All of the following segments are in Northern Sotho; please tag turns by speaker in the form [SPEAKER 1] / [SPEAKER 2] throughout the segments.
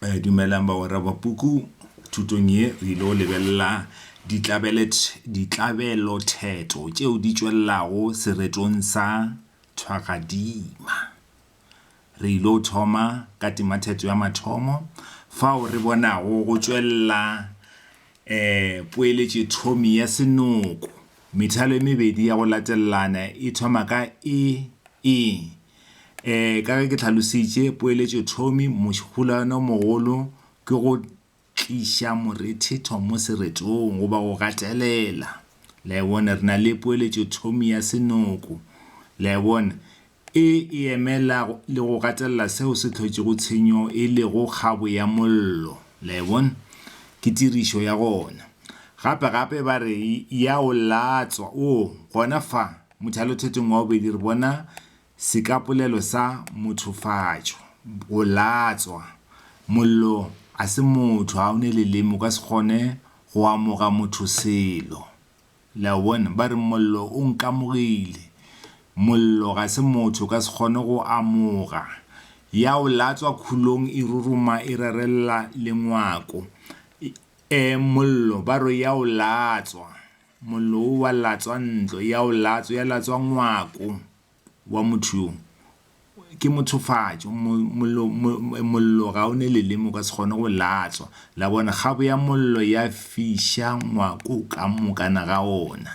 [SPEAKER 1] Eh, dumelang bagwera ba puku thutong ye re ile go lebelela ditlabelothetho tšeo di tšwelelago seretong sa thwagadima re ile go thoma ka temathetso ya mathomo fao re bonago go tšwelela um poeletše thomi ya senoko methalo e mebedi ya go latelelana e thoma ka e e Ka ge ke tlhalositše poeletšothomi, mohohlwane o mogolo ke go tliša morethetho mo seretong goba go gatelela. Le a e bona? Re na le poeletšothomi ya senoko. Le a e bona? E e emela le go gatelela seo se hlotšego tshenyo e lego kgabo ya mollo. Le a e bona? Ke tirišo ya gona. Gape-gape ba re, ya o latswa. Oo, gona fa. Mothalothetong wa bobedi re bona sekapolelo sa mothofatšo, go latswa. Mollo a se motho, ga o ne leleme, o ka se kgone go amoga motho selo. Le a bona? Ba re, Mollo o nkamogile. Mollo ga se motho, o ka se kgone go amoga. Ya o latswa khulong, e ruruma, e rerelela lengwako. E, mollo, ba re, ya o latswa. Mollo wo wa latswa ntlo ya o latswa ya latswa ngwako wa motho yo. Ke mothofatšo. Mo, mollo, mo, mollo ga o ne leleme, o ka se kgone go latswa. La bona? Kgabo ya mollo ya fiša ngwako ka mokana ga ona.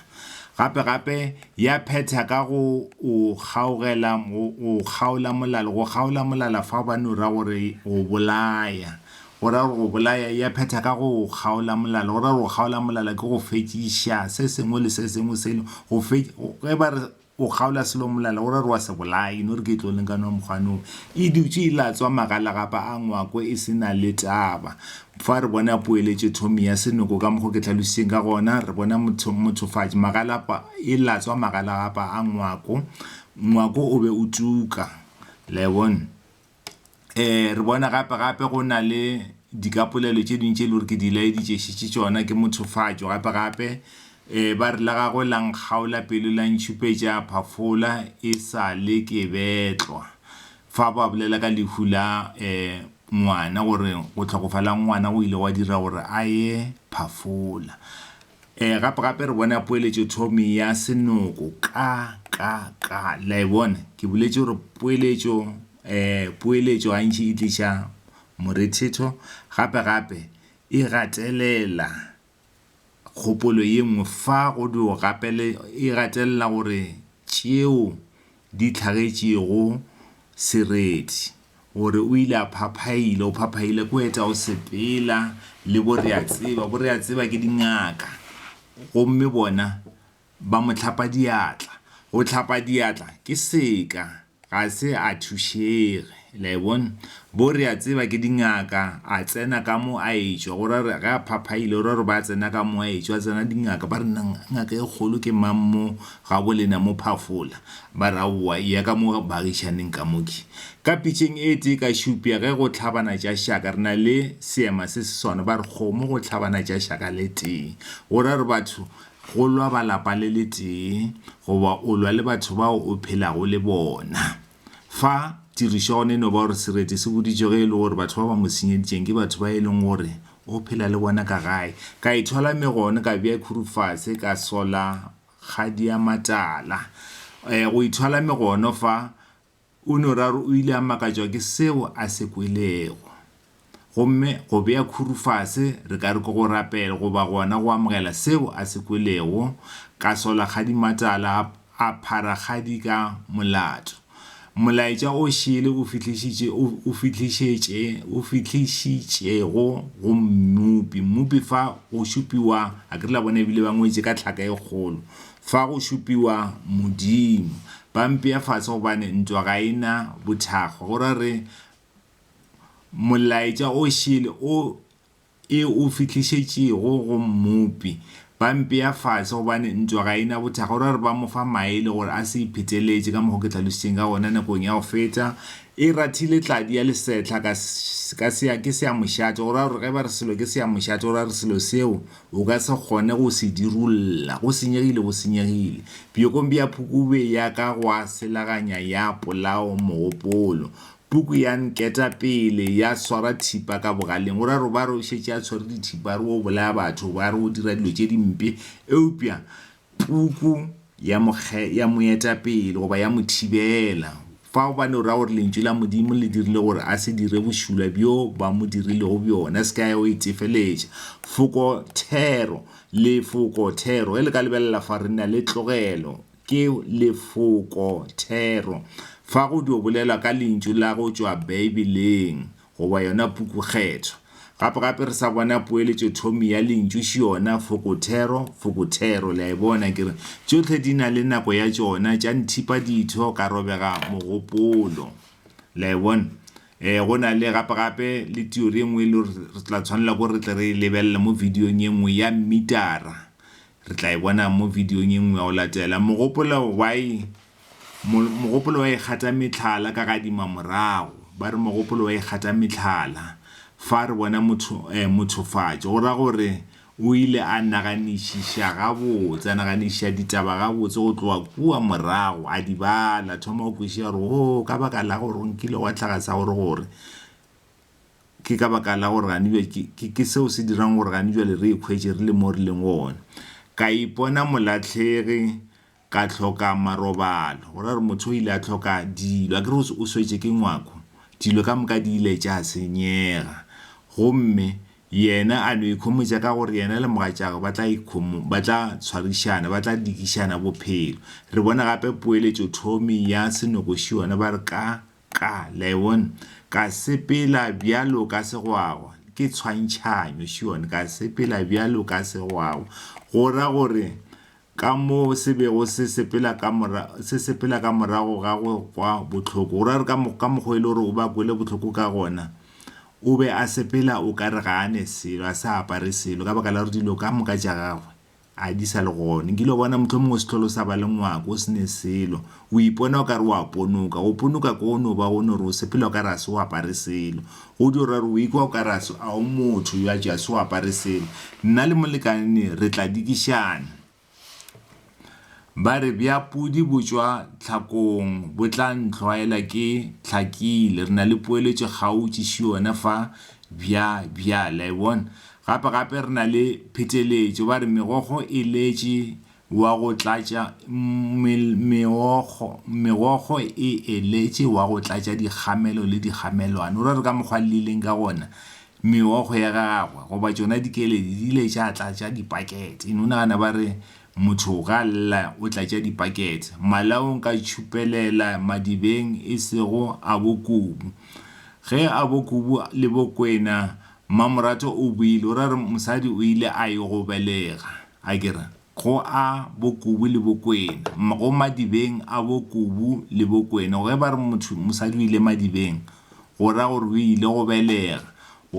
[SPEAKER 1] Gape, gape ya phetha ka go o kgaogela, go o kgaola molala, go kgaola molala fao ba no ra gore go bolaya. Go ra gore go bolaya, e a phetha ka go o kgaola molala. Go ra gore go kgaola molala ke go fetšiša se sengwe le se sengwe se no, go fe, ge ba re o kgaola selo molala, go ra gore wa se bolaya, e no re ke tlo leng ka nwa mokgwanong. E dutše e latswa magalagapa a ngwako e se na le taba. Fa re bona poeletšothomi ya senoko ka mokgo ke hlalošitšeng ka gona, re bona motho, mothofatši, magalapa, e latswa magalagapa a ngwako. Ngwako o be o tuka. Le a e bona? re bona gape gape go na le dikapolelo tše dingwe tše e le gore ke di laeditše šetše tšona ke mothofatšo gape gape um ba re la gagwe la nkgaola pelo la ntšhupetša phafola e sa le ke betlwa fa ba bolela ka lehu la um ngwana gore go tlhokofala ngwana o ile wa dira gore a ye phafola E, gape, gape re bona poeletšothomi ya senoko, ka, ka, ka. Le a e bona? Ke boletše gore poeletšo, e, poeletšo gantši e tliša morethetho, gape, gape e gatelela kgopolo ye nngwe fa go dwo gapele, e gatelela gore tšeo di hlagetšego sereti, gore o ile a phaphaila, o phaphaile ko eta o sepela le bo re a tseba, bo re a tseba ke dingaka, gomme bona ba mo hlapa diatla, go hlapa diatla ke seka, ga se a thušege. Le a e bona? Bo re a tseba ke dingaka, a tsena ka mo a etšwa. Go ra gore ge a phaphaile, go ra gore ba tsena ka mo a etšwa, a tsena dingaka. Ba re, Nna, ngaka e kgolo ke mang mo gabo lena mo phafola? Ba re, Aowa, eya ka mo baagišaneng ka mo. Ke ka pitšeng e tee ka šupša ge go hlabana tša šaka. Re na le seema se se swana. Ba re, Kgomo go hlabana tša šaka le tee. Go ra gore batho, go lwa ba lapa le le tee, goba o lwa le batho bao o phelago le bona. Fa tirišo ya ona e no ba gore sereti se boditšwe ge e le gore batho ba ba mo senyeditšeng ke batho ba e leng gore o phela le bona ka gae. Ka ithwala me gone ka bea khuru fase ka sola kgadi ya matala. Go ithwala me gone fa, Unoraro o ile a makatšwa ke seo a se kwelego. Gomme go bea khuru fase, re ka re ke go rapela, goba gona go amogela seo a se kwelego, ka sola ga dimatala a, a phara ga di ka molato. Molaetša o šele o fihlišitše, o, o fihlišetše, o fihlišitšego go Mmopi. Mmopi fa go šupiwa, a ke re la bona e bile ba ngwetše ka tlhaka e kgolo, fa go šupiwa Modimo. Ba mpea fase gobane ntwa ga e na bothakgwa. Go ra re Molaetša o šele o e o fihlišetšego go Mmopi. Ba mpea fase gobane ntwa ga e na bothakga. O ra gore ba mo fa maele gore a se ipheteletše ka mokgwa o ke hlalošitšeng ka gona nakong ya go feta. E rathile tladi ya lesehla ka, ka sea, ke seamošate. O ra gore ge ba re selo ke seamošate, o ra gore selo seo o ka se kgone go se dirulla. Go senyegile, go senyegile. Bjokong bja phukubje ya ka gwa selaganya ya polao mogopolo. Puku ya nketa pele ya swara thipa ka bogaleng. O ra robare o šetše a tshwere dithipa, a re o bolaya batho, a re o dira dilo tše dimpe. Eupša Puku ya mo kge, ya mo eta pele goba ya mo thibela. Fa gobane o ra gore Lentšu la Modimo le dirile gore a se dire bošula bjo ba mo dirilego bjona. Se ka ya go itefeletša. Foko thero, lefoko thero. Ge le ka lebelela fa, re na le tlogelo. Ke lefoko thero. Fa go dio bolelwa ka lentšu la go tšwa Beibeleng goba yona pukukgetho. Gape-gape re sa bona poeletšothomi ya lentšu xiona, fokothero, fokothero. Le a e bona? Ke re, tšohle di na le nako ya tšona, tša nthipa ditho, ka robega mogopolo. Le a e bona? E, go na le, gape-gape, le teori e nngwe e le gore re tla tshwanela ke gore re tle re e lebelele mo bidiong e nngwe, ya mmitara. Re tla e bona mo vidiong e nngwe ya go latela. Mogopolo wa e, mo, mogopolo wa e gata mehlala ka gadima morago. Ba re mogopolo wa e gata mehlala. Fa re bona motho, eh, mothofatšo, go ra gore o ile a naganišiša gabotse, a naganišiša ditaba gabotse go tloga kua morago, a di bala, thoma go kwešiša gore, Oo, ka baka la gore go nkile gwa hlaga sa gore, gore. Ke ka baka la gore gane bjale ke, ke, ke seo se dirang gore gane bjale re ikhwetše re le mo re leng gona. Ka ipona molahlegi, ka hloka marobalo. Go ra gore motho o ile a hloka dilo. Akere o, o swetše ke ngwako. Dilo ka moka di ile tša senyega. Gomme yena a no ikhomotša ka gore yena le mogatšagwe ba tla ikhomo, ba tla tshwarišana, ba tla dikišana bophelo. Re bona gape poeletšothomi ya senokoši yona, ba re ka, Ka, Leon, ka sepela bjalo ka segwagwa. Ke tshwantšhanyo, Sion, ka sepela bjalo ka segwagwa, go ra gore, ka mo se bego se sepela ka mora, se sepela ka morago ga go kwa bohloko, go ra gore ka, ka mokgwa e le gore o be a kwele bohloko ka gona, o be a sepela o ka re ga a ne selo, a sa apare selo, ka baka la gore dilo ka moka tša gagwe A di sa le gone. Nkile wa bona mohlomongwe o sehlolo sa ba le ngwako, o se ne selo. O ipona o ka re o a ponoka. Go ponoka ko go no ba go no re o sepela o ka re ga se o apare selo. Go dio ra re o ikwa o ka re ga o motho yo a tšwa se o apare selo. Nna le molekane ne re tla dikišana. Ba re bja pudi bo tšwa tlhakong bo tla ntlhwaela ke hlakile. Re na le poeletšo kgautši ši yona fa bja bjale. La e bona? Gape-gape re na le pheteletšo, ba re megokgo e letše wa go tlatša, mil, meokgo, megokgo e eletše wa go tlatša dikgamelo le dikgamelwane. O re re ka mokgwa llileng ka gona, meokgo ya gagwe, goba tšona dikeledi, di ile tša tlatša dipakete. Eno, o nagana ba re motho ga a lla o tlatša dipakete, malaong ka tšhupelela madibeng e sego a bo Kubu. Ge a bo Kubu le bo Kwena Mmamoratho o buile, o ra re mosadi o ile a yo go belega, a ke re, go a bo Kubu le Bokwena, go madibeng a bo Kubu le Bokwena. Ge ba re motho, mosadi o ile madibeng, go ra gore o ile go belega,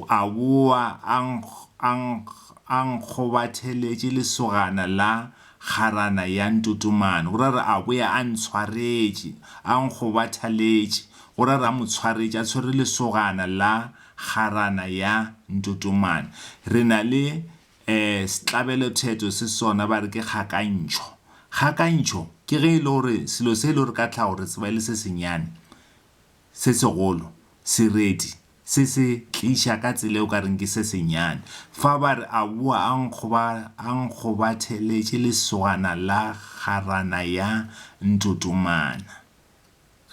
[SPEAKER 1] a boa a a a nkgobatheletše lesogana la kgarana ya Ntotomane, go ra re a boa a ntshwaretše, a nkgobathaletše, go ra re a mo tshwaretše a tshwere lesogana la Kgarana ya Ntotomane. Re na le eh setlabelothetso se sona ba re ke kgakantšho. Kgakantšho ke ge e le gore selo se e le gore ka tlhago re tseba e le se senyane, se segolo, sereti se se tliša ka tsela e o ka reng ke se senyane. Fa ba re a boa a nkgoba a nkgobatheletše lesogana la kgarana ya Ntotomana.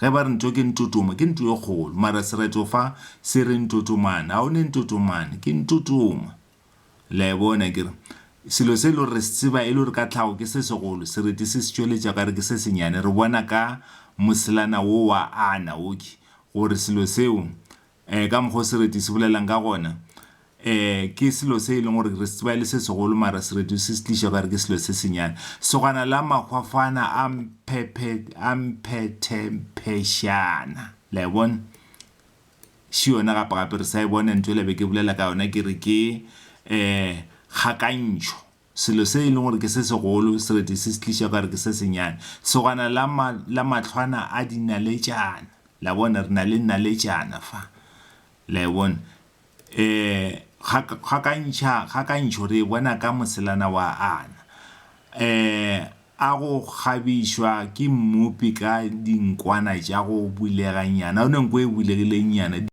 [SPEAKER 1] Ge ba re nto ke ntotoma, ke nto e kgolo, mara sereto fa se re ntotomane. A o ne ntotomane? Ke ntotoma. Le a e bona? E kere, selo se e le gore re se tseba e le gore ka tlhago ke se segolo, sereti se se tšweletša ka re ke se senyane. Re bona ka moselana wo wa Ana, okay, gore selo seo um ka mokgwa o sereti se bolelang ka gona, um ke selo se e leng gore re se tseba e le se segolo mara sereti o se se tliša o ka re ke selo se senyane. Segwana la mahwafana a mphethemphešana. Le a e bona? Še yona gapegape re sa e bona ntho yela be ke bolela ka yona ke re ke um kgakantšho. Selo se e lego gore ke se segolo se rete se se tliša ka gore ke se senyane. Segwana la, la mahlwana a dinaletšana. La bona? Re na le naletšana fa. La e bona? E, ga, gakantšha, gakantšho re e bona ka moselana wa Ana. E, a go kgabišwa ke Mmopi ka dinkwana tša go buleganyana, yona nko e bulegilengnyana.